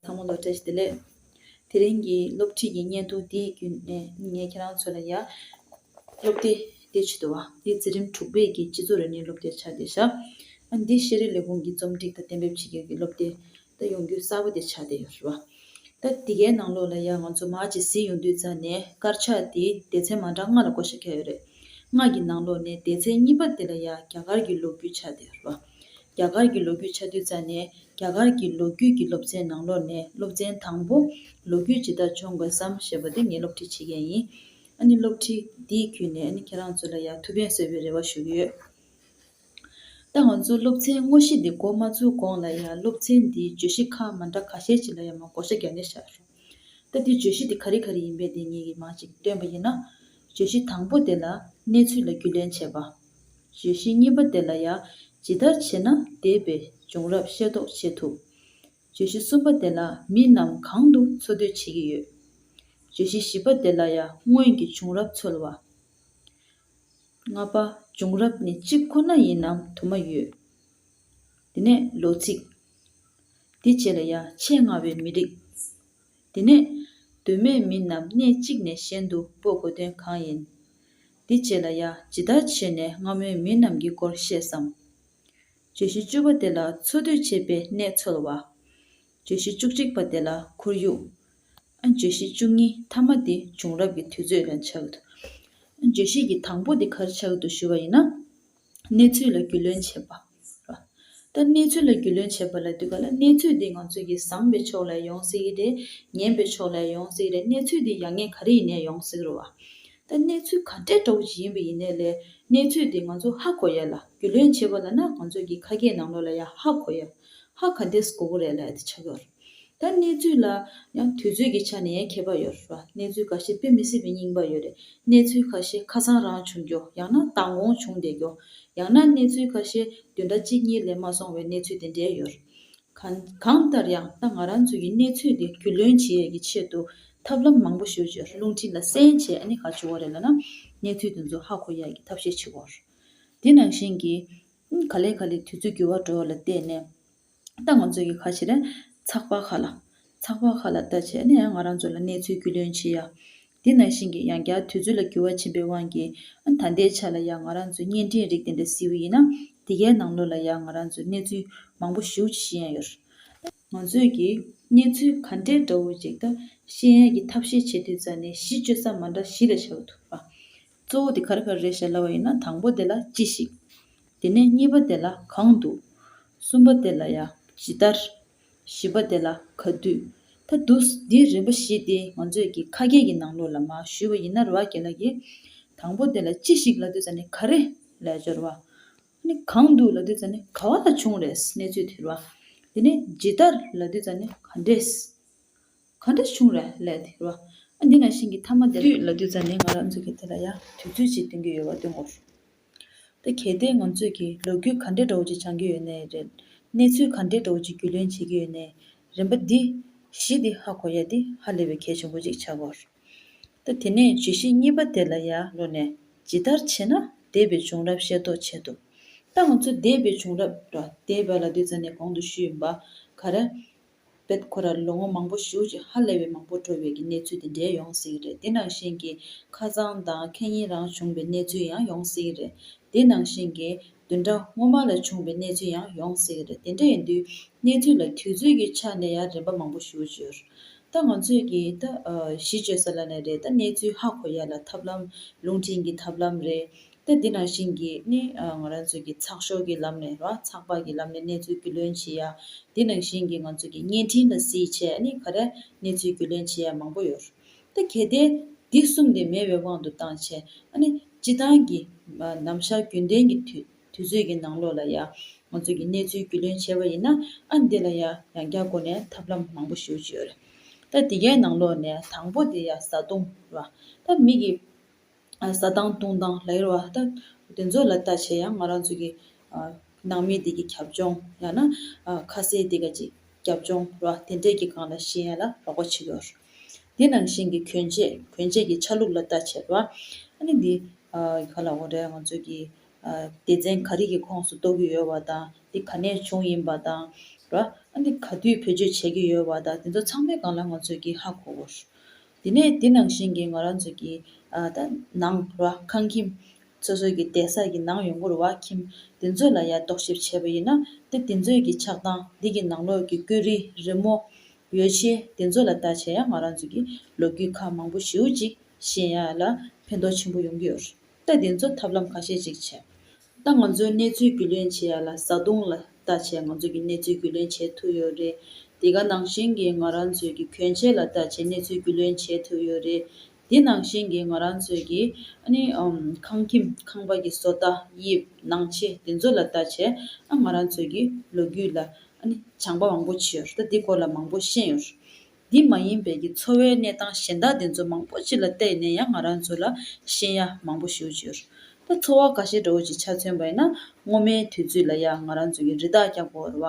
དང་པོ་ལོ་བཀྲ་ཤིས་བདེ་ལེགས། དེ་རིང་གི་སློབ་ཁྲིད་ཀྱི་བརྙན་ཐུང་འདིའི་བརྒྱུད་ནས་ངས་ཁྱེད་རང་ཚོ་ལ་ཡ། སློབ་དེབ་དེ་ཇི་ལྟ་བ། འདི་འཛིན་རིམ་དྲུག་པའི་གི་སྤྱི་ཚོགས་རིག་གནས་སློབ་དེབ་ཆགས་ཏེ་བཞག། ཨ་འདི་ཤེས་རིག་ལས་ཁུངས་ཀྱིས་རྩོམ་སྒྲིག་དང་གཏན་འབེབས་བྱེད་རྒྱུ་གི་སློབ་དེབ་ད་ཡོང་རྒྱུ་གསར་པོ་དེ་ཆགས་ཏེ་ཡོད་རེད་བ། ད་འདི་གའི་ནང་ལོགས་ལ་ཡ་ང་ཚོ་མར་ཇི་སི་ཡོང་དུས་རྩ་ནས་དཀར་ཆག་དེའི་སྡེ་ཚན་མ་འདྲ་ལྔ་ལ་གོ་ཤ་ཁྱེར་ཡོད་རེད། ལྔ་གི་ནང་ལོགས་ནས་སྡེ་ཚན་གཉིས་པ་དེ་ལ་ཡ་རྒྱ་གར་གྱི་ལོ་རྒྱུས་ཆགས་ཏེ་ཡོད་རེད་བ། རྒྱ་གར་གྱི་ལོ་རྒྱུས་ཆ་མཐུན་རྩ་ནས་རྒྱ་གར་གྱི་ལོ་རྒྱུས་ཀྱི་སློབ་ཚན་ནང་ལོག་ནས་སློབ་ཚན་དང་པོ་ལོ་རྒྱུས་ཇི་ལྟར་བྱུང་དགོས་སམ་ཞེས་པ་དེ་ངས་སློབ་ཁྲིད་བྱེད་མཁན་ཡིན། ཨ་ནི་སློབ་ཁྲིད་འདིའི་བརྒྱུད་ནས་ཨ་ནི་ཁྱེད་རང་ཚོ་ལ་ཡང་ཐུགས་ཕན་གསོས་པའི་རེ་བ་ཞུ་གི་ཡོད། ད་ང་ཚོ་སློབ་ཚན་དངོས་གཞི་འདི་འགོ་མ་ཚུགས་གོང་ལ་ཡང་སློབ་ཚན་འདིའི་བརྗོད་གཞི་ཁག་མ་འདྲ་ཁ་ཤས་ཅིག་ལ་ཡང་མ་གོ་ཆ་བརྒྱབ་ནས་བཞག་ཞོག་ད་འདིའི་བརྗོད་གཞི་དེ་ག་རི་ག་རི་ཡིན་པའི་དེ་ངེད་ཀྱིས་མ་ཅིག་སྟོན་པ་ཡིན་ན། བརྗོད་གཞི་དང་པོ་དེ་ལ་གནས་ཚུལ་ལ་རྒྱུས་ལོན་བྱས་པ། བརྗོད་གཞི་གཉིས་པ་དེ་ལ་ཡང་ཇི་ལྟར་བྱས་ན་འདས་པའི་བྱུང་རབས་ཤེས་རྟོགས་བྱེད་ཐུབ། བརྗོད་གཞི་གསུམ་པ་དེ་ལ་མི་རྣམས་གང་དུ་འཚོ་སྡོད་བྱེད་ཀྱི་ཡོད། བརྗོད་གཞི་བཞི་པ་དེ་ལ་ཡང་སྔོན་གྱི་བྱུང་རབས་འཚོལ་བ། ལྔ་པ། བྱུང་རབས་ནི་གཅིག་ཁོ་ན་ཡིན་ནམ་དུ་མ་ཡོད། དེ་ནས་ལོ་ཚིགས། འདི་བཅས་ལ་ཡང་ཆེས་སྔ་བའི་མི་རིགས། དེ་ནས། དོན་མེད་མི་རྣམས་གནས་གཅིག་ནས་གཞན་དུ་སྤོ་དགོས་དོན་གང་ཡིན། འདི་བཅས་ལ་ཡ་ཇི་ལྟར་བྱས་ནས་སྔ་མོའི་མི་རྣམས་ཀྱི་སྐོར་ཤེས་སམ། བརྗོད་གཞི་བཅུ་པ་དེ་ལ་འཚོ་སྡོད་བྱེད་པའི་གནས་འཚོལ་བ། བརྗོད་གཞི་བཅུ་གཅིག་པ་དེ་ལ་ཁོར་ཡུག། བརྗོད་གཞི་བཅུ་གཉིས་མཐའ་མ་དེ་བྱུང་རབས་ཀྱི་དུས་ཚོད་ལ་ཆགས། བརྗོད་གཞི་གྱི་དང་པོ་དེ་གར་ཆགས་འདུག་ཞུ་བ་ཡིན་ན། གནས་ཚུལ་ལ་རྒྱུས་ལོན་བྱེད་པ། ལྟ། གནས་ཚུལ་ལ་རྒྱུས་ལོན་བྱེད་པ་ལ་བསྡུས་པ་ལ་གནས་ཚུལ་དེ་ང་ཚོས་ཀྱིས་བཟང་བའི་ཕྱོགས་ལས་ཡོང་སྲིད་ཀྱི་རེད། ངན་པའི་ཕྱོགས་ལས་ཡོང་སྲིད་ཀྱི་རེད་གནས་ཚུལ་དེ་ཡག་ཉེས་ག་རེ་ཡིན་ནས་ཡོང་སྲིད་རུང་བ། ལྟ། གནས་ཚུལ་ག་འདྲའི་དྲག་པོ་ཞིག་ཡིན་པ་ཡིན་ནས་ལས་གནས་ཚུལ་དེ་ང་ཚོ་ཧ་གོ་ཡ་ལ་རྒྱུས་ལོན་བྱེད་པ་ལ་ན་ང་ཚོས་ཀྱིས་ཁ་སྐད་ནང་ལོགས་ལ་ཡང་ཧ་གོ་ཡ། ཧ་ག་འདེད་གོ་གོ་རེད་ལ་ཨེ་ཏི་ཆགས་ཀྱི་རེད། ད་གནས་ཚུལ་ལ་ཡང་དུས་ཚོད་ཀྱི་ཆ་ནས་ཡང་ཁྱད་པར་ཡོད་རེད་བ། གནས་ཚུལ་ག་ཤེད་དཔེ་མི་སྲིད་པའི་རྙིང་པ་ཡོད་རེད། གནས་ཚུལ་ཁ་ཤེད་ཁ་སང་རང་བྱུང་རྒྱོ་ཡང་ན་མདང་དགོང་བྱུང་བསྡད་རྒྱོ། ཡང་ན་གནས་ཚུལ་ཁ་ཤེད་བདུན་ཟླ་གཅིག་གཉིས་ལས་མ་སོང་བའི་གནས་ཚུལ་དེ་འདྲའི་ཡོད་རེད། གང་གང་ལྟར་ཡང་ད་ང་རང་ཚོས་ཀྱི་གནས་ཚུལ་དེ་རྒྱུས་ལོན་བྱེད་ཡས་ཀྱི་ཆེད་དུ་ཐབས་ལམ་མང་པོ་ཞོལ་ཆོས་རླུང་འཕྲིན་ལ་གསན་བྱས་ཨ་ནི་ག་བྱུང་བ་རེད་ལ་ན། གནས་ཚུལ་དེ་ཚོ་ཧ་གོ་ཡས་ཀྱི་ཐབས་ཤེས་བྱེད་དགོས་རེད། དེ་ནང་བཞིན་གྱི། ག་ལེ་ག་ལེ་དུས་ཚོད་འགྱུར་བ་འགྲོ་བ་ལ་བལྟས་ནས། ད་ང་ཚོས་ཀྱི་ཁ་ཕྱི་ལ་ཚགས་པར་ཁ་ལ། ཚགས་པར་ཁ་ལ་ལྟ་བྱས་ནས་ང་རང་ཚོ་ལ་གནས་ཚུལ་རྒྱུས་ལོན་བྱེད་ཡ། དེ་ནང་བཞིན་གྱི་ཡང་བསྐྱར་དུས་ཚོད་ལ་འགྱུར་བ་ཕྱིན་པའི་དབང་གིས། ད་ལྟའི་ཆ་ལ་ཡང་ང་རང་ཚོས་བརྙན་འཕྲིན་རིགས་དེ་འདྲ་བསིལ་བོ་ཡིན་ན། དེ་གའི་ནང་ལོགས་ལ་ཡང་ང་རང་ཚོས་གནས་ཚུལ་མང་པོ་ཞིག་ཞུ་ཡ་ཡོད། ང་ཚོས་ཀྱི་གནས་ཚུལ་ག་འདྲའི་འདྲ་བོ་ཅིག་ད་ཤེས་ཡ་ཀྱི་ཐབས་ཤེས་བྱེད་དུས་རྩ་ནས་གཞི་བཅོལ་ས་མ་འདྲ་བཞི་ལ་བྱ་བ་ཐུག་པ། གཙོ་བོ་དེ་ག་རེ་ག་རེ་རེད་ཤེས་སླ་བ་ཡིན་ན་དང་པོ་དེ་ལ་ཅི་ཞིག། དེ་ནས་གཉིས་པ་དེ་ལ་གང་འདུག། གསུམ་པ་དེ་ལ་ཡང་ཇི་ལྟར། བཞི་པ་དེ་ལ་ག་དུས། ད་འདུག་འདིའི་རིམ་པ་བཞི་དེ་ང་ཚོས་ཀྱི་ཁ་སྐད་ཀྱི་ནང་ལོགས་ལ་མ་ཞུས་པ་ཡིན་ན་རེ་བ་དགེ་ལགས་ཀྱིས། དང་པོ་དེ་ལ་ཅི་ཞིག་ལ་དུས་ཙམ་ནས་ག་རེ་ལས་སྦྱོར་བ། གང་འདུག་ལ་དུས་ཙམ་ནས་ག་བ་ལ་བྱུང་རེད་གནས་ཚུལ་དེར་བ། དེ་ནས་ཇི་ལྟར་ལ་དུས་ཙམ་ནས་ག་འདྲས། ག་འདྲ་བྱུང་ར་ལས་དེ་རོ། ཨ་འདི་ན་ཤིང་གི་ཐ་མ་དེ། དུས་ལ་དུས་ཙམ་ནས་ང་རང་ཚོ་གིས་དེ་ལ་ཡང་དུས་ཚོད་ཅིག་སྟོན་གྱི་ཡོད་པ་སྟོན་དགོས་བྱུང། ད་གལ་ཏེ་ང་ཚོས་ཀྱིས་ལོ་རྒྱུས་ག་འདྲའི་འདྲ་བོ་ཅིག་སྦྱང་གི་ཡོད་ནའི་རེད། གནས་ཚུལ་ག་འདྲའི་འདྲ་བོ་ཅིག་རྒྱུས་ལོན་བྱེད་ཀྱི་ཡོད་ནའི་རེད་འབའ་འདི། གཞི་འདི་ཧ་གོ་ཡ་འདི་ཧ་ལས་པའི་གལ་ཆེན་པོ་ཅིག་ཆགས་དགོས། ད་དེ་ནས་བརྗོད་གཞི་གཉིས་པ་དེ་ལ་ཡར་ལོ་ནས་ཇི་ལྟར་བྱས་ན་འདས་པའི་བྱུང་རབས་ཤེས་རྟོགས་བྱེད་ཐུབ། ད་ང་ཚོས་འདས་པའི་བྱུང་རབས་ར་དེ་བལ་ལ་དུས་ཙམ་ནས་གོང་དུ་ཞུས་འབའ་ག་རེ། བོད་ཁུལ་ར་ལོ་ངོ་མང་པོ་བཞུགས་རྗེས་ཧ་ལས་པའི་མང་པོ་འགྲོ་བའི་ཀྱི་གནས་ཚུལ་དེ་འདྲའི་ཡོང་སྲིད་རེད་དེ་ནང་བཞིན་གྱི་ཁ་རྩང་དང་ཁེ་ཉིན་རང་བྱུང་བའི་གནས་ཚུལ་ཡང་ཡོང་སྲིད་རེད་དེ་ནང་བཞིན་གྱི་བདུན་ཕྲག་སྔོན་མ་ལ་བྱུང་བའི་གནས་ཚུལ་ཡང་ཡོང་སྲིད་རེད་དེ་འདྲ་ཡིན་དུས་གནས་ཚུལ་ལ་དུས་ཚོད་ཀྱི་ཆ་ནས་ཡང་རིམ་པ་མང་པོ་བཞུགས་རྒྱུར་ད་ང་ཚོས་ཀྱི་ད་གཞི་བཅོལ་ས་ལ་ནས་རེད་ད་གནས་ཚུལ་ཧ་གོ་ཡ་ལ་ཐབས་ལམ་རླུང་འཕྲིན་གྱི་ཐབས་ལམ་རེད་ལྟ་འདི་ན་བཞིན་གྱི་ནི་ང་རང་ཚོའི་གི་ཚགས་ཤོག་གི་ལམ་ནས་རང་ཚགས་པར་གྱི་ལམ་ནས་གནས་ཚུལ་རྒྱུས་ལོན་བྱེད་ཡ། འདི་ན་བཞིན་གྱི་ང་ཚོའི་གི་བརྙན་འཕྲིན་ལ་གཟིགས་བྱས་ནི་ག་རེ་གནས་ཚུལ་རྒྱུས་ལོན་བྱེད་ཡ་མང་པོ་ཡོད། ལྟ་གལ་ཏེ་འདི་གསུམ་དེ་མེད་བའི་དབང་དུ་བཏང་བྱས་ཨ་ནི་སྤྱི་བཏང་གི་ནམ་ཞར་རྒྱུན་ལྡན་གྱི་དུས་ཚོད་ཀྱི་ནང་ལོགས་ལ་ཡ་ང་ཚོའི་གི་གནས་ཚུལ་རྒྱུས་ལོན་བྱེད་པ་ཡིན་ན་ཨ་འདི་ལ་ཡ་ཡང་བསྐྱར་སྒོ་ནས་ཐབས་ལམ་མང་པོ་ཞུ་བྱོས། ལྟ་འདི་གའི་ནང་ལོགས་ནས་དང་པོ་དེ་ཡ་བཟའ་བཏུང་ར། ལྟ་མིག་གི། ཟ་དང་བཏུང་དང་ལ་ཡོད་བ་ད་དེ་ཚོ་ལ་ལྟ་བྱས་ཡང་ང་རང་ཚོ་གི་ནང་མི་དེ་གི་ཁྱབ་ལྗོངས་ཡང་ན་ཁ་ཟས་དེ་ག་གི་ཁྱབ་ལྗོངས་ར་དེ་འདྲས་ཀྱི་གང་ལ་ཤེས་ཡ་ལ་རོགས་པ་བྱེད་དགོས། དེ་ནང་བཞིན་གྱི་གྱོན་ཆས་གྱོན་ཆས་ཀྱི་ཆ་ལུགས་ལ་ལྟ་བྱས་པ། ཨ་ནི་འདི་ག་ལ་འོ་རེད་ང་ཚོ་གི་སྡེ་ཚན་ག་རིགས་ཀྱི་ཁོངས་སུ་གཏོགས་ཀྱི་ཡོད་བ་དང་དེ་ག་ནས་བྱུང་ཡིན་པ་དང་ར་ཨ་ནི་ག་དུས་བེད་སྤྱོད་བྱས་ཀྱི་ཡོད་བ་དང་དེ་ཚོ་ཚང་མའི་གང་ལ་ང་ཚོས་ཀྱི་ཧ་གོ་དགོས། དེ་ནས་དེ་ནང་བཞིན་གྱི་ང་རང་ཚོའི་གི་ནང་ར་ཁང་ཁྱིམ། སོ་སོའི་གི་གདན་ས་གི་ནང་ཡོང་སྒོར་བ་ཁྱིམ་དེ་ཚོ་ལ་ཡ་རྟོག་ཞིབ་བྱས་པ་ཡིན་ན་དེ་དེ་ཚོའི་གི་ཆགས་སྟངས་དེ་གི་ནང་ལོག་གི་བརྐོས་རིས་རི་མོ། ཡོ་བྱེད་དེ་ཚོ་ལ་བལྟ་བྱས་ཡ་ང་རང་ཚོའི་གི་ལོ་རྒྱུས་ཁག་མང་པོ་ཞེའུ་ཅིག་བཞིན་ཡ་ལ་ཕན་ཐོག་ཆེན་པོ་ཡོང་གི་ཡོད་རེད་དེ་ཚོ་ཐབས་ལམ་ཁ་ཤས་ཅིག་བྱས། ད་ང་ཚོའི་གནས་ཚུལ་རྒྱུས་ལོན་བྱེད་ཡག་ལ་བཟའ་བཏུང་ལ་ལྟ་བྱས་ང་ཚོ་གི་གནས་ཚུལ་རྒྱུས་ལོན་བྱེད་ཐུབ་ཡོད་རེད་དེ་ག་ནང་བཞིན་གྱི་ང་རང་ཚོས་ཀྱི་གྱོན་ཆས་ལ་ལྟ་བྱས་གནས་ཚུལ་རྒྱུས་ལོན་བྱེད་ཐུབ་ཡོད་རེད་དེ་ནང་བཞིན་གྱི་ང་རང་ཚོས་ཀྱི་ཨ་ནི་ཁང་ཁྱིམ་ཁང་པ་གྱི་བཟོ་ལྟ་དབྱིབས་ནང་ཆས་དེ་ཚོ་ལ་ལྟ་བྱས་ང་རང་ཚོས་ཀྱི་ལོ་རྒྱུས་ལ་ཨ་ནི་བྱང་པ་མང་པོ་བྱས་ཡོད་རེད་ད་དེ་སྐོར་ལ་མང་པོ་ཤེས་ཡོད་རེད། འདི་མ་ཡིན་པའི་ཀྱི་འཚོ་བའི་གནས་སྟངས་གཞན་དག་དེ་ཚོ་མང་པོ་ཅིག་ལ་བལྟས་ནས་ཡང་ང་རང་ཚོ་ལ་ཤེས་ཡ་མང་པོ་ཞུ་འཇུར། ད་འཚོ་བ་ག་ཤེད་འདྲ་བོ་ཅིག་ཆ་མཚོན་པ་ཡིན་ན་སྔོ་མའི་དུས་ཚོད་ལ་ཡང་ང་རང་ཚོ་ཀྱི་རི་དྭགས་བསྐྱབ་དགོས་ར་བ།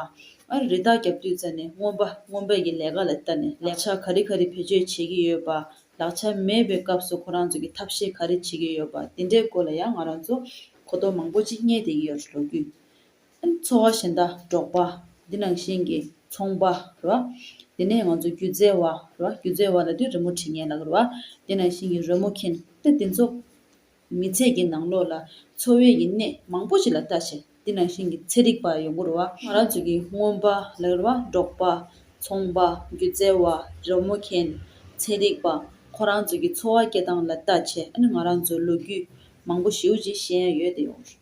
ཨ་རི་དྭགས་བསྐྱབ་དུས་རྩ་ནས་སྔོན་པ་སྔོན་པའི་ཀྱི་ལས་ཀ་ལ་བལྟ་ནས་ལག་ཆ་ག་རི་ག་རི་བེད་སྤྱོད་བྱེད་ཀྱི་ཡོད་པ། ལག་ཆ་མེད་པའི་སྐབས་སུ་ཁོ་རང་ཚོ་ཀྱི་ཐབས་ཤེས་ག་རི་བྱེད་ཀྱི་ཡོད་པ་དེ་འདྲའི་སྐོར་ལ་ཡང་ང་རང་ཚོ་གོ་རྟོགས་མང་པོ་ཅིག་རྙེད་བསྡད་ཀྱི་ཡོད་ར་ལོ་རྒྱུས་སེམས་འཚོ་བ་ཞེ་འདའ་འགྲོགས་པ། འདི་ནང་བཞིན་གྱི་ཚོང་པ་རེད་བ། དེ་ནས་ང་ཚོ་སྒྱུ་རྩལ་བ་རེད་བ། སྒྱུ་རྩལ་བ་ལ་དེ་རི་མོ་བྲིས་ངན་ལགས་རེད་བ། འདི་ནང་བཞིན་གྱི་རོལ་མོ་མཁན་ཏེ་དེ་ཚོ། མི་ཚེ་གྱི་ནང་ལོགས་ལ་འཚོ་བའི་ཡིན་གནས་མང་པོ་ཞིག་ལ་ལྟ་བྱས། འདི་ནང་བཞིན་གྱི་ཚེ་རིག་པ་ཡོང་གི་རེད་བ། ང་རང་ཚོ་གི་སྔོན་པ་ལགས་རེད་བ། འབྲོག་པ། ཚོང་པ། སྒྱུ་རྩལ་བ། རོལ་མོ་མཁན། ཚེ་རིག་པ། ཁོ་རང་ཚོ་གྱི་འཚོ་བ་སྐྱེལ་སྟངས་ལ་ལྟ་བྱས། ཨ་ནི་ང་རང་ཚོ་ལོ་རྒྱུས་མང་པོ་ཞེའུ་ཅིག་ཤེས་ཡ་ཡོད་དེ་ཡོང་རེད།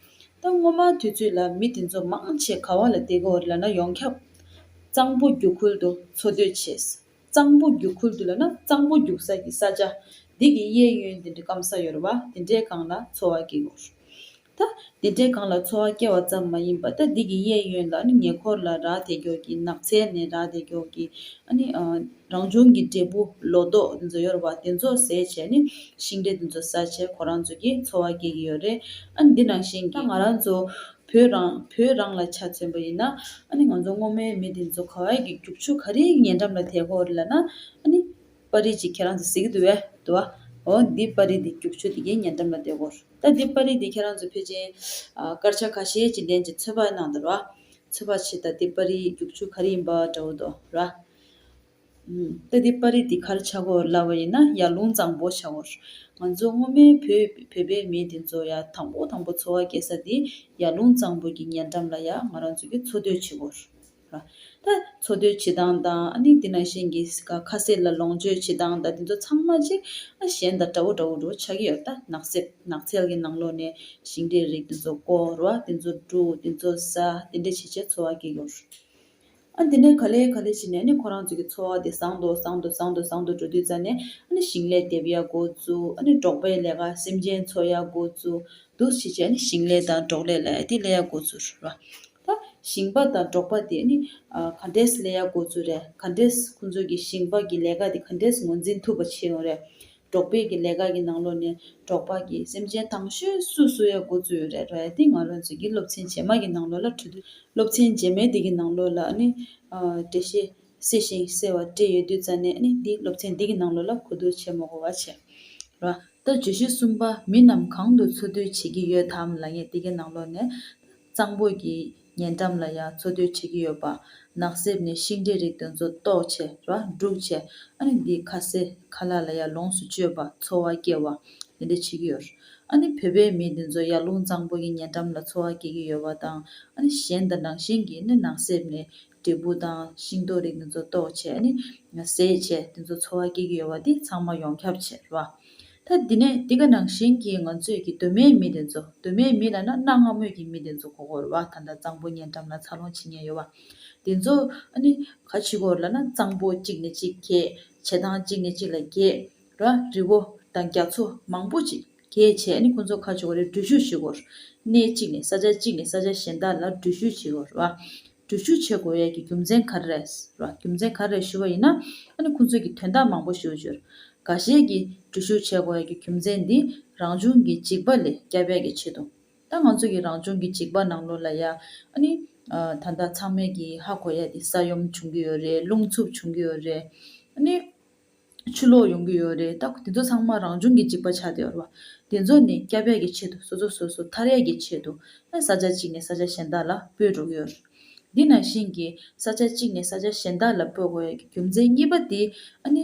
ད་སྔོན་མ་དུས་ཚོད་ལ་མི་དེ་ཚོ་མང་ཆེ་ག་བ་ལ་བལྟས་གོ་ལ་ན་ཡོངས་ཁྱབ་གཙང་པོ་རྒྱུག་ཁུལ་དུ་འཚོ་སྡོད་བྱེད། གཙང་པོ་རྒྱུག་ཁུལ་དུ་ལ་ན་གཙང་པོ་རྒྱུག་ས་ཀྱི་ས་ཆ་འདི་གི་གཡས་གཡོན་དེ་འདྲ་སྐམ་ས་ཡོད་ར་བ་དེ་འདྲའི་སྒང་ལ་འཚོ་བ་སྐྱེལ་གོ། ད་དེ་འདྲའི་སྒང་ལ་འཚོ་བ་སྐྱེལ་བ་ཙམ་མ་ཡིན་པ་ད་འདི་གི་གཡས་གཡོན་ལ་ནི་ཉེ་འཁོར་ལ་རག་དེ་འགྱོགས་ཀྱི་ནགས་ཚལ་ནས་རག་དེ་འགྱོགས་ཀྱི་ཨ་ནི། རང་བྱུང་གི་འབྲས་བུ་ལོ་ཏོག་འདི་ཚོ་ཡོར་བ་དེ་ཚོ་ཟས་བྱས་ནས་ཤིང་འབྲས་འདི་ཚོ་ཟ་བྱས་ཁོ་རང་ཚོ་གི་འཚོ་བ་སྐྱེལ་གྱི་ཡོད་རེད་ཨ་ནི་འདི་ནང་བཞིན་གྱི་ང་རང་ཚོ་བོད་རང་བོད་རང་ལ་ཆ་མཚོན་པ་ཡིན་ན་ཨ་ནི་ང་ཚོ་སྔོ་མའི་མི་འདི་ཚོ་ཁ་བའི་གི་རྒྱུག་ཆུ་ག་རེའི་ཉེ་འགྲམ་ལ་དེད་ཁོ་རེ་ལ་ན་ཨ་ནི་པར་རིས་ཅིག་ཁྱེད་རང་ཚོ་གཟིགས་གི་འདུག་བས་འོ་འདི་པར་རིས་འདི་རྒྱུག་ཆུ་དེ་གའི་ཉེ་འགྲམ་ལ་དེད་ཁོ། ད་འདི་པར་རིས་འདི་ཁྱེད་རང་ཚོ་ཕེ་ཅིན་སྐར་ཆ་ཁ་ཤས་ཀྱི་ལྡན་གྱི་ཚོད་དཔག་གནང་འདུག་ར་བ་ཚོད་དཔག་བྱས་ད་འདི་པར་རིས་རྒྱུག་ཆུ་ག་རེ་ཡིན་པ་འདྲ་བོ་འདུག་ར་བ། ལྟ་དེ་པར་རིས་འདི་གར་བྱ་གོ་སླ་བ་ཡིན་ན་ཡར་ཀླུང་གཙང་པོ་བྱ་བར། ང་ཚོ་སྔོན་མའི་བོད་པའི་མི་དེ་ཚོ་ཡར་དང་པོ་དང་པོ་འཚོ་བ་སྐྱེལ་ས་དེ་ཡར་ཀླུང་གཙང་པོ་གྱི་ཉེ་འགྲམ་ལ་ཡར་ང་རང་ཚོ་གི་འཚོ་སྡོད་བྱེད་གོ། ད་འཚོ་སྡོད་བྱེད་སྟངས་དང་ཨ་ནི་འདི་ན་བཞིན་གྱི་ཁ་ཟས་ལ་ལོངས་སྤྱོད་བྱེད་སྟངས་དང་དེ་ཚོ་ཚང་མ་ཅིག་ཨ་གཞན་དང་འདྲ་བོ་འདྲ་བོ་འདྲ་བོ་ཆགས་ཀྱི་ཡོད་ད་ནགས་གསེབ་ནགས་ཚལ་གྱི་ནང་ལོགས་ནས་ཞིང་འབྲས་རིགས་དེ་ཚོ་བརྐོ་ར་དེ་ཚོ་བསྒྲུག་དེ་ཚོ་ཟ་དེ་འདྲས་བྱེད་བྱེད་འཚོ་བ་སྐྱེལ་གྱི་ཡོད། ཨ་འདི་ནས་ག་ལེ་ག་ལེ་བྱས་ནས་ཨ་ཁོ་རང་ཚོ་གི་འཚོ་བ་དེ་བཟང་དུ་བཟང་དུ་བཟང་དུ་བཟང་དུ་འགྲོ་དུས་རྩ་ནས་ཨ་ཞིང་ལས་འདེབས་ཡག་དགོས་ཚུལ་ཨ་འབྲོག་པའི་ལས་ཀ་སེམས་ཅན་འཚོ་ཡག་དགོས་ཚུལ་འདུག་བྱས་རྗེས་ཨ་ཞིང་ལས་དང་འབྲོག་ལས་ལ་ཡ་དེ་ལས་ཡག་དགོས་ཚུལ་རེད་བ། ད་ཞིང་པ་དང་འབྲོག་པ་དེ་ག་འདྲས་ལས་ཡག་དགོས་ཚུལ་རེད་ག་འདྲས་ཁོང་ཚོ་གི་ཞིང་པ་གི་ལས་ཀ་དེ་ག་འདྲས་ངོས་འཛིན་ཐུབ་པ་བྱེད་ཡོང་རེད་འབྲོག་པའི་གི་ལས་ཀ་གི་ནང་ལོ་ནས་འབྲོག་པ་གི་སེམས་ཅན་དང་ཤོས་སུ་བཟོ་ཡ་གོ་ཚུལ་རེད་རེད་དེ་ང་རོ་ཚོས་གི་སློབ་ཚན་རྗེས་མ་གི་ནང་ལོ་ལ་འཁྲུལ་དུས་སློབ་ཚན་རྗེས་མའི་དེ་གི་ནང་ལོ་ལ་ནི་འགྲེལ་བཤད་བསེ་ཞིང་བསེ་བ་སྤྲད་ཡོད་དུས་རྩ་ནས་ནི་འདི་སློབ་ཚན་འདི་གི་ནང་ལོ་ལ་གོ་དུས་ཆེ་མོ་གོ་བ་ཆེ་ར་ད་བརྗོད་གཞི་གསུམ་པ་མི་རྣམས་གང་དུ་འཚོ་དུས་བྱེད་གི་ཡོད་དམ་ལ་ངས་དེ་གི་ནང་ལོ་ནས། གཙང་པོ་གྱི་ཉེ་འགྲམ་ལ་ཡང་འཚོ་སྡོད་བྱེད་ཀྱི་ཡོད་པ། ནགས་གསེབ་ནས་ཤིང་འབྲས་རིགས་དེ་ཚོ་བཏོག་ཆེ་ར་སྒྲུག་ཆེ། ཨ་ནི་དེའི་ཁ་ཟས་ཁ་ལག་ལ་ཡར་ལོངས་སུ་སྤྱོད་པ་འཚོ་བ་སྐྱེལ་བ། དེ་འདྲ་བྱེད་ཀྱི་ཡོད། ཨ་ནི་བོད་པའི་མི་དེ་ཚོ་ཡར་ཀླུང་གཙང་པོ་གྱི་ཉེ་འགྲམ་ལ་འཚོ་བ་སྐྱེལ་གྱི་ཡོད་པ་དང་ཨ་ནི་གཞན་དང་རང་བཞིན་གྱིས་ནི་ནགས་གསེབ་ནས་འབྲས་བུ་དང་ཤིང་རྡོ་རིགས་འདི་ཚོ་གཏོགས་བྱས་ནས་ཟས་བཅད་དེ་ཚོ་འཚོ་བ་སྐྱེལ་གྱི་ཡོད་པ་དེ་ཚང་མ་ཡོངས་ཁྱབ་བྱས་རོགས། ད་འདི་ནས་འདི་ག་ནང་བཞིན་གྱི་ང་ཚོས་ཀྱི་གདོད་མའི་མི་དེ་ཚོ་གདོད་མའི་མི་ལ་ན་གནའ་སྔ་མོས་ཀྱི་མི་དེ་ཚོ་གོ་གོར་བ་ད་ལྟ་གཙང་པོ་ཉེ་འགྲམ་ལ་འཚར་ལོངས་བྱེད་ཉེན་ཡོད་པ་དེ་ཚོ་ནི་ག་ཕྱི་གོར་ལ་ན་གཙང་པོ་གཅིག་ནས་གཅིག་གྱེས་བྱེ་ཐང་གཅིག་ནས་གཅིག་ལ་གྱེས་རོགས་རི་བོ་དང་རྒྱ་མཚོ་མང་པོ་ཅིག་གྱེས་བྱས་ནས་ཁོ་ཚོ་ག་ཕྱི་གོ་རེ་འགྲུལ་བཞུད་བྱེད་གོ་རོགས་གནས་གཅིག་ནས་ས་ཆ་གཅིག་ནས་ས་ཆ་གཞན་དག་ལ་འགྲུལ་བཞུད་བྱེད་གོ་རོགས། འགྲུལ་བཞུད་བྱེད་དགོས་ཡས་ཀྱི་རྒྱུ་མཚན་ག་རེ་རེད། རྒྱུ་མཚན་ག་རེ་རེད་ཞུ་བ་ཡིན་ན། ཁོང་ཚོས་ཀྱི་དོན་དག་མང་པོ་ཞུ་བཅུར། འགའ་ཤས་ཀྱི་འགྲུལ་བཞུད་བྱེད་དགོས་ཡས་ཀྱི་རྒྱུ་མཚན་འདི་རང་བྱུང་གི་འཇིགས་པ་ལས་སྐྱ་བད་ཀྱི་ཆེད་དུ། ད་ང་ཚོ་ཀྱི་རང་བྱུང་གི་འཇིགས་པ་ནང་ལོ་ལ་ཡ། ད་ལྟ་ཚང་མས་ཀྱི་ཧ་གོ་ཡས་ཀྱི་ས་ཡོམ་བྱུང་གི་ཡོད་རེད་རླུང་འཚུབ་བྱུང་གི་ཡོད་རེད། ཆུ་ལོག་ཡོང་གི་ཡོད་རེད་ད་དེ་ཚོ་ཚང་མ་རང་བྱུང་གི་འཇིག་པ་ཆགས་བསྡད་རོགས། དེ་ཚོ་ནི་སྐྱ་བད་ཀྱི་ཆེད་དུ་སོ་སོ་སོ་སོ་ཐར་ཡས་ཀྱི་ཆེད་དུ་ཨེ་ས་ཆ་གཅིག་ནས་ས་ཆ་གཞན་དག་ལ་སྤོས་འགྲོ་གི་ཡོད་རེད། དེ་ནང་བཞིན་གྱི་ས་ཆ་གཅིག་ནས་ས་ཆ་གཞན་དག་ལ་སྤོས་དགོས་ཡས་ཀྱི་རྒྱུ་མཚན་གཉིས་པ་དེ་ཨ་ནི་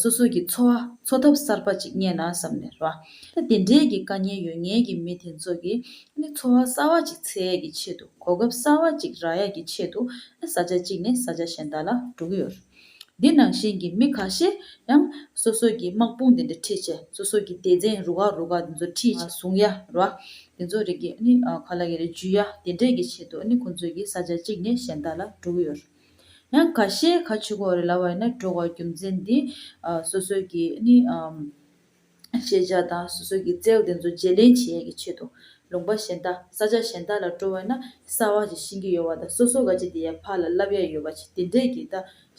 སོ་སོ་ཀྱི་འཚོ་བ་འཚོ་ཐབས་གསར་པ་གཅིག་རྙེད་ན་བསམ་ནས་རོགས། ད་དེ་འདྲས་ཀྱི་དཀའ་ངལ་ཡོད་ངེས་ཀྱི་མི་དེ་ཚོ་གི་ཨ་ནི་འཚོ་བ་གསར་བ་གཅིག་འཚལ་ཡས་ཀྱི་ཆེད་དུ་གོ་སྐབས་གསར་བ་གཅིག་རག་ཡས་ཀྱི་ཆེད་དུ་ཨེ་ས་ཆ་གཅིག་ནས་ས་ཆ་གཞན་དག་ལ་འགྲོ་གི་ཡོད་རེད། འདི་ནང་བཞིན་གྱི་མི་ཁ་ཤས་ཡང་སོ་སོ་གྱི་དམག་དཔུང་འདི་འདྲ་ཁྲིད་ཆེད་སོ་སོ་གྱི་སྡེ་ཚན་རུ་ཁག་རུ་ཁག་འདི་ཚོ་ཁྲིད་ཆེད་ཟུང་ཡ་རུ་བ་འདི་ཚོ་རེ་གིས་ནི་ཁ་ལ་གི་རེ་འཇུ་ཡ་དེ་འདྲས་ཀྱི་ཆེད་དུ་ནི་ཁོང་ཚོས་ཀྱི་ས་ཆ་གཅིག་ནས་གཞན་དག་ལ་འགྲོ་གི་ཡོད། ཡང་ཁ་ཤས་ཁ་ཆུ་ཁོག་རེ་ལ་བ་ཡིན་ན་འགྲོ་བ་རྒྱུ་མཚན་འདི་སོ་སོ་གྱི་ནི། ཤེས་བྱ་དང་སོ་སོ་ཀྱི་རྩལ་དེ་ཚོ་བརྗེ་ལེན་བྱེད་ཡག་གི་ཆེད་དུ་ལུང་པ་གཞན་དག་ས་ཆ་གཞན་དག་ལ་སྤྲོ་བས་ན་གསར་བ་ཞིག་ཤེས་ཀྱི་ཡོད་བ་དང་སོ་སོ་ག་ཅིག་དེ་ཡར་ཕར་ལ་བསླབ་ཡག་ཡོད་པ་ཞིག་དེ་འདྲས་ཀྱིས་ད་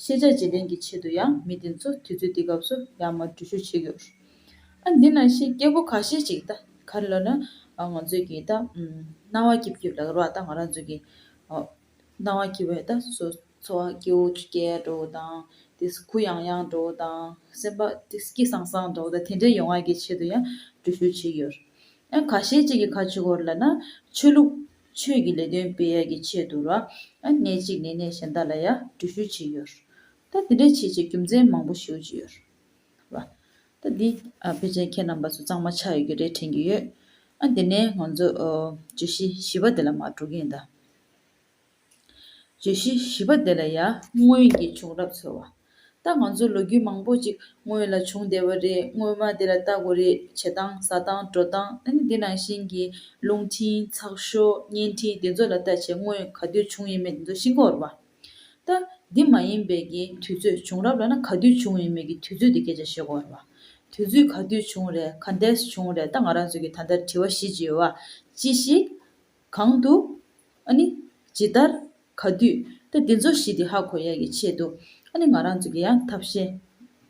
ཤེས་བྱ་བརྗེ་ལེན་གྱི་ཆེད་དུ་ཡང་མི་དེ་ཚོ་དུས་ཚོད་འདི་སྐབས་སུ་ཡར་མར་འགྲུལ་བཞུད་བྱེད་ཀྱི་རེད། ཨ་འདི་ན་ཤེས་སྐྱེ་བོ་ག་ཤེད་ཅིག་ད་ག་རེ་ལབ་ན་ང་ཚོས་ཀྱིས་ད་སྣང་བ་སྐྱིབས་སྐྱིབས་ལ་རོགས་ད་ང་རང་ཚོས་ཀྱིས། སྣང་བ་སྐྱེ་བའི་རྟགས་སུ་ཚོར། སྐྱེ་བོ་ཆུ་སྐྱེས་འགྲོ་བོ་དང། དེ་སྲིད་ཁུ་ཡང་ཡང་འགྲོ་བོ་དང། སེམས་པ་སྐྱིད་སྐྱིད་སངས་སངས་འགྲོ་བོ་དང་དེ་འདྲའི་ཡོང་བ་གི་ཆེད་དུ་ཡང་འགྲུལ་བཞུད་བྱེད་ཀྱི་ཡོད། ཡང་ཁ་ཤས་ཅིག་གིས་ཁ་ཆུ་ཁོར་ལ་ན་ཆོས་ལུགས། ཆོས་ཀྱི་ལས་དོན་སྤེལ་ཡ་གི་ཆེད་དུ་ར། གནས་གཅིག་ནས་གནས་གཞན་དག་ལ་ཡང་འགྲུལ་བཞུད་བྱེད་ཡོད། ད་དེ་འདྲའི་བྱེད་བྱེད་རྒྱུ་མཚན་མང་པོ་ཞིག་ཡོད། ར། ད་འདི་ཕལ་ཆེར་ཁྱེད་རྣམས་པ་ཚོ་གཙང་མ་ཆགས་ཡོད་ཀྱི་རེད་དྲན་གྱི་ཡོད། ཨ་འདི་ནས་ང་ཚོ། བརྗོད་གཞི་བཞི་པ་འདི་ལ་མ་འགྲོ་གི་ཡིན་ད། བརྗོད་གཞི་བཞི་པ་འདི་ལ་ཡང་སྔོན་གྱི་བྱུང་རབས་འཚོལ་བ། ད་ང་ཚོ་ལོ་རྒྱུས་མང་པོ་ཅིག་སྔོན་ལ་བྱུང་བསྡད་པ་རེད་སྔོན་མ་དེ་ལ་ལྟ་དགོས་རེད་བྱེད་སྟངས་ཟ་སྟངས་འགྲོ་སྟངས་ཨ་ནི་དེ་ནང་བཞིན་གྱི་རླུང་འཕྲིན་ཚགས་ཤོག་བརྙན་འཕྲིན་དེ་ཚོ་ལ་ལྟ་བྱས་སྔོན་ག་དུས་བྱུང་ཡིན་མེད་དེ་ཚོ་ཤིན་ཀོ་རུ་བ། ད་འདི་མ་ཡིན་པའི་གི་དུས་ཚོད་བྱུང་རབས་ལ་ན་ག་དུས་བྱུང་ཡིན་མེད་གི་དུས་ཚོད་དེ་སྐད་ཆ་བཤད་གོ་རུ་བ། དུས་ཚོད་ག་དུས་བྱུང་རེད་ག་འདས་བྱུང་རེད་ད་ང་རང་ཚོས་གི་ད་ལྟར་དྲི་བ་བཞི་ཅིག་ཡོད་བ་ཅི་ཞིག་གང་དུ། ཨཱ་ནི། ཇི་ལྟར། ག་དུས། ཏེ་འདི་ཚོ་བཞི་དེ་ཧ་གོ་ཡ་ཡི་ཆེད་དུ། ཨཱ་ནི་ང་རང་ཚོ་གི་ཡང་ཐབས་ཤེས།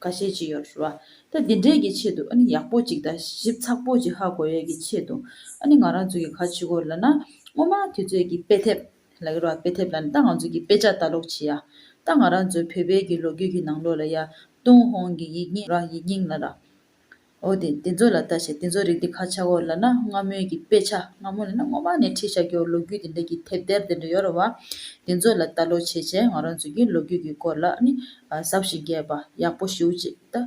ག་ཤེས་ཅི་ཡོད་ར། ཏེ་འདི་འདྲས་ཀྱི་ཆེད་དུ་ཨཱ་ནི་ཡག་པོ་ཅིག་དང་ཞིབ་ཚགས་པོ་ཅིག་ཧ་གོ་ཡ་ཡི་ཆེད་དུ། ཨཱ་ནི་ང་རང་ཚོ་གི་ག་ཇི་གོ་ལ་ན། སྔོན་མ་དུས་ཚོད་ཀྱི་དཔེ་དེབ། ལ་ཡོད་ར་དཔེ་དེབ་ལ་ནི་ད་ང་ཚོ་གི་དཔེ་ཆ་ལྟ་ཀློག་བྱེད་ཡ། ད་ང་རང་ཚོའི་བོད་པའི་གི་ལོ་རྒྱུས་ཀྱི་ནང་ལོ་ལ་ཡ། ཏུང་ཧོང་གི་ཡིག་རྙིང་ར་ཡིག་རྙིང་ལ་ར། འོ་དེ་འདི་ཚོ་ལ་ལྟ་བྱས་འདི་ཚོ་རིགས་འདི་ཁ་ཆག་གོ་ལ་ན་སྔ་མོའི་གི་དཔེ་ཆ་སྔ་མོ་ལ་ན་སྔོན་མ་ནས་ཁྲིད་བྱ་རྒྱུའོ་ལོ་རྒྱུས་དེ་འདྲ་གི་དེབ་དེར་དེ་འདྲ་ཡོད་རེད་བ། འདི་ཚོ་ལ་ལྟ་ལོ་བྱས་བྱས་ང་རང་ཚོའི་གི་ལོ་རྒྱུས་གི་སྐོར་ལ་ནི་ཟབ་ཞིང་རྒྱས་པ་ཡག་པོ་ཞིའུ་ཅིག་ལྟ།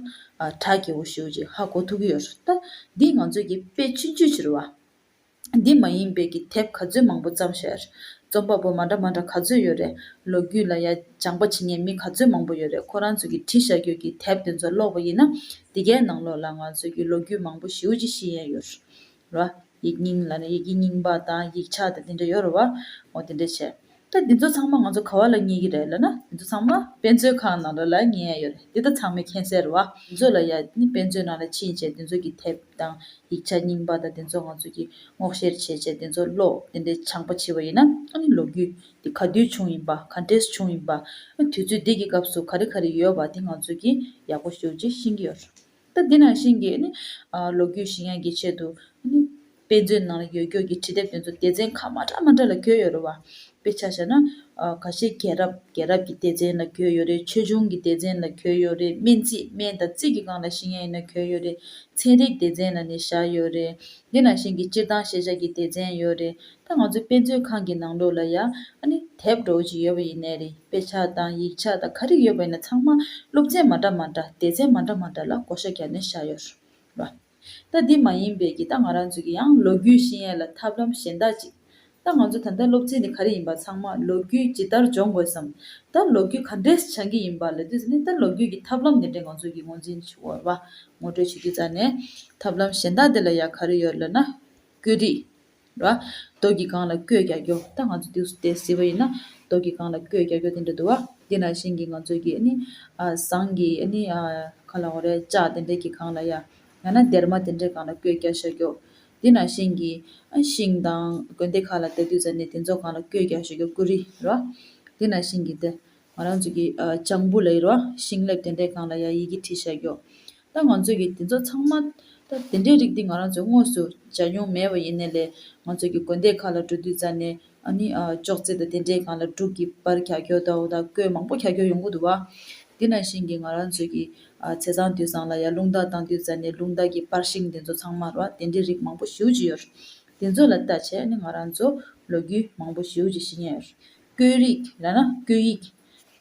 གྲགས་རྒྱས་པོ་ཞིའུ་ཅིག་ཧ་གོ་ཐུབ་གི་ཡོད་རེད་བ། འདི་ང་ཚོའི་གི་དཔེ་ཆུང་ཆུང་ཕྱིར་བ། འདི་མ་ཡིན་དཔེ་གི་དེབ་ག་ཚོད་མང་པོ་བརྩམས་ཤར། རྩོམ་པ་པོ་མ་འདྲ་མ་འདྲ་ག་ཚོད་ཡོད་རེད། ལོ་རྒྱུས་ལ་ཡ་སྦྱང་པ་བྱེད་མཁན་མི་ག་ཚོད་མང་པོ་ཡོད་རེད་ཁོ་རང་ཚོ་གི་བྲིས་ཤར་རྒྱུད་ཀྱི་དེབ་དེ་ཚོ་ཀློག་པ་ཡིན་ན། འདི་གའི་ནང་ལོགས་ལ་ང་ཚོ་གི་ལོ་རྒྱུས་མང་པོ་ཞིའུ་ཅི་ཤི་ཡན་ཡོད་རེད། ཡིག་རྙིང་ལ་ཡི་གི་རྙིང་པ་དང་ཡིག་ཆ་དང་དེ་འདྲ་ཡོད་རེད་བ། ངོ་དེ་འདྲ་བྱས། ད་འདི་ཚོ་ཚང་མ་ང་ཚོ་ག་བ་ལ་ཉེ་གི་རེད་ལ་ན་འདི་ཚོ་ཚང་མ་དཔེ་མཛོད་ཁང་ནང་ལ་ལ་ཉེ་ཡ་ཡོད་རེད་འདི་ད་ཚང་མའི་མཁྱེན་གསལ་རེད་བ། འདི་ཚོ་ལ་ཡ་ནི་དཔེ་མཛོད་ནང་ལ་ཕྱིན་བྱས་འདི་ཚོ་གི་དེབ་དང་ཡིག་ཆ་རྙིང་པ་དང་འདི་ཚོ་ང་ཚོ་གི་སྔོག་བཤེར་བྱས་བྱས་འདི་ཚོ་ཀློག་འདི་འདྲའི་ཆང་པ་བྱིས་བ་ཡིན་ན་ཨ་ནི་ལོ་རྒྱུས་འདི་ག་དུས་བྱུང་ཡིན་པ་ག་འདྲས་བྱུང་ཡིན་པ་ཨ་ནི་དུས་ཚོད་འདི་གི་སྐབས་སུ་ག་རེ་ག་རེ་ཡོད་བ་འདི་ང་ཚོ་གི་ཡག་པོ་ཞུ་རྗེས་ཤེས་ཀྱི་ཡོད་རེད། ད་དེ་ནང་བཞིན་གྱི། ལོ་རྒྱུས་ཤིང་ཡང་གི་ཆེད་དུ། དཔེ་མཛོད་ནང་ལ་ཡོད་སྐྱོར་གྱི་བྲིས་དེབ་དེ་ཚོ་སྡེ་ཚན་ཁག་མ་འདྲ་མ་འདྲ་ལ་བསྐྱོད་ཡོད་རེད་བ། དཔེ་ཆ་བྱས་ན། ག་ཤེད་རྒྱལ་རབས་རྒྱལ་རབས་ཀྱི་སྡེ་ཚན་ལ་བསྐྱོད་ཡོད་རེད་ཆོས་འབྱུང་གི་སྡེ་ཚན་ལ་བསྐྱོད་ཡོད་རེད་སྨན་རྩིས་སྨན་དང་རྩིས་ཀྱི་སྒང་ལ་ཤིང་ཡང་ཡིན་ན་བསྐྱོད་ཡོད་རེད་ཚན་རིག་སྡེ་ཚན་ལ་ནི་བཞག་ཡོད་རེད། དེ་ནང་བཞིན་གྱི་སྤྱིར་བཏང་ཤེས་བྱ་གྱི་སྡེ་ཚན་ཡོད་རེད་ད་ང་ཚོའི་དཔེ་མཛོད་ཁང་གི་ནང་ལོགས་ལ་ཡང་ཨ་ནི་དེབ་གྲོགས་གཅིག་ཡོད་པ་ཡིན་ནའི་རེད་དཔེ་ཆ་དང་ཡིག་ཆ་དང་ག་རེ་ཡོད་པ་ཡིན་ན་ཚང་མ་ཀླུབ་ཚན་མ་འདྲ་མ་འདྲ་དེད་ཚན་མ་འདྲ་མ་འདྲ་ལ་བགོ་བཤའ་རྒྱབ་ནས་བཞག་ཡོད་རེད། ད་འདི་མ་ཡིན་པས་ཀྱི་ད་ང་རང་ཚོས་ཀྱི་ཡང་ལོ་རྒྱུས་ཤེས་ཡས་ལ་ཐབས་ལམ་གཞན་དག་ཅིག་ད་ང་ཚོ་ད་ལྟ་ཀློབ་ཚན་དེ་ག་རེ་ཡིན་པ་ཚང་མ་ལོ་རྒྱུས་ཇི་ལྟར་སྦྱོང་དགོས་སམ་ད་ལོ་རྒྱུས་ག་འདྲས་སྦྱང་གི་ཡིན་པ་ལ་དུས་ནས་ད་ལོ་རྒྱུས་ཀྱི་ཐབས་ལམ་དེ་འདྲས་ང་ཚོས་ཀྱི་ངོ་འཛིན་བར་བ་ངོ་སྤྲོད་བྱེད་རྒྱུ་ཙང་ནས་ཐབས་ལམ་གཞན་དག་དེ་ལ་ཡང་ག་རེ་ཡོད་ལ་ན་བཀོད་སྒྲིག་ལ། རྡོ་རྒྱུས་གང་ལ་བསྐོས་རྒྱག་རྒྱོ་ད་ང་ཚོ་དུས་སུ་དེ་ཟེར་བ་ཡིན་ན་རྡོ་རྒྱུས་གང་ལ་བསྐོས་རྒྱག་རྒྱོ་དེ་འདྲ་འདུག་བ་དེ་ན་བཞིན་གྱི་ང་ཚོས་ཀྱི་ནི་ཟངས་ཀྱི་ནི་ག་ལ་འོ་རེད་ལྕགས་དེ་འདྲས་ཀྱི་གང་ལ་ཡ་ཡང་ན་སྡེར་མ་དེ་འདྲས་གང་ལ་བསྐོས་རྒྱག་བྱ་རྒྱོ། དེ་ན་བཞིན་གྱི་ཤིང་དང་དགོན་སྡེ་ཁག་ལ་དེ་དུས་ཟེར་ནས་དེ་ཚོ་གང་ལ་བསྐོས་རྒྱག་བྱ་རྒྱོ་ཀུ་རི་ར། དེ་ན་བཞིན་གྱི་དེ་ང་རང་ཚོ་གི་ལྕང་བུ་ལ་ཡོད་པ་ཤིང་ལེབ་དེ་འདྲའི་སྒང་ལ་ཡང་ཡི་གེ་བྲིས་བཞག་ཡོད། ད་ང་ཚོ་གི་དེ་ཚོ་ཚང་མ། ད་དེ་འདྲའི་རིགས་འདི་ང་རང་ཚོས་དངོས་སུ་བྱ་མྱོང་མེད་པ་ཡིན་ནའི་ལས་ང་ཚོ་གི་དགོན་སྡེ་ཁག་ལ་འགྲོ་དུས་རྩ་ནས་ཨ་ནི་ཅོག་ཙེ་དང་དེ་འདྲའི་སྒང་ལ་འབྲུག་གི་པར་གྱ་གྱོ་དང་འོ་ད་ཀོས་མང་པོ་གྱ་གྱོ་ཡོང་གི་འདུག་བ། དེ་ནང་བཞིན་གྱི་ང་རང་ཚོས་ཀྱི་ཚེ་ཚང་དུས་སང་ལ་ཡང་རླུང་རྟ་བཏང་དུས་རྩ་ནས་རླུང་རྟ་གི་པར་ཤིང་དེ་ཚོ་ཚང་མར་བ་དེ་འདྲའི་རིགས་མང་པོ་ཞིའུ་ཅི་ཡོད། དེ་ཚོ་ལ་ལྟ་བྱས་ནས་ང་རང་ཚོ་ལོ་རྒྱུས་མང་པོ་ཞིའུ་ཅི་ཤེས་ཉེན་ཡོད། བསྐྱོད་རིགས་ཡང་ན་བསྐྱོད་ཡིག།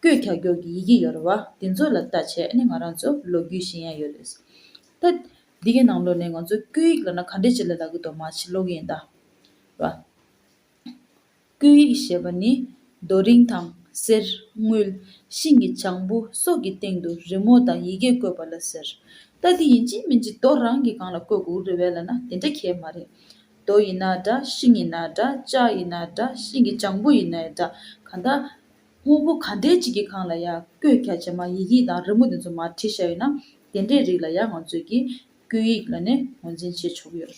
བསྐྱོད་ཁྱག་སྒྱོགས་ཀྱི་ཡི་གེ་ཡོད་རེད་བ། དེ་ཚོ་ལ་བལྟ་བྱས་ནི་ང་རང་ཚོ་ལོ་རྒྱུས་ཤེས་ཡ་ཡོད་རེད། ད། འདི་གའི་ནང་ལོགས་ནས་ང་ཚོ་བསྐྱོད་ཡིག་ལ་ན་ག་འདྲའི་བྱེད་ལ་ལ་གི་དོ་མ་བྱེད་ལོག་གི་ཡིན་ད། བ། བསྐྱོད་ཡིག་ཞེས་པ་ནི་རྡོ་རིང་དང། གསེར། དངུལ། ཤིང་གི་བྱང་བུ་སོགས་ཀྱི་སྟེང་དུ་རི་མོ་དང་ཡི་གེ་བཀོད་པ་ལ་ཟེར། ད་དེ་ཡིན་གཅིག་མིན་གཅིག་རྡོ་རང་གི་སྒང་ལ་བཀོད་དགོས་རེད་བས་ལ་ན་དེ་འདྲ་གལ་མ་རེད། རྡོ་ཡིན་ན་འདྲ་ཤིང་ཡིན་ན་འདྲ་ལྕགས་ཡིན་ན་འདྲ་ཤིང་གི་སྤྱང་པོ་ཡིན་ནའི་འདྲ་གང་དག། དངོས་པོ་ག་འདྲའི་ཅིག་གི་གང་ལ་ཡང་བཀོད་རྒྱ་བྱེད་མ་ཡི་གེ་དང་རི་མོ་དེ་ཚོ་མ་བྲིས་བཞག་ཡོད་ན་དེ་འདྲའི་རིགས་ལ་ཡང་ང་ཚོས་ཀྱིས་བརྐོས་ཡིག་ལ་ནས་ངོས་འཛིན་བྱེད་ཆོག་གི་ཡོད།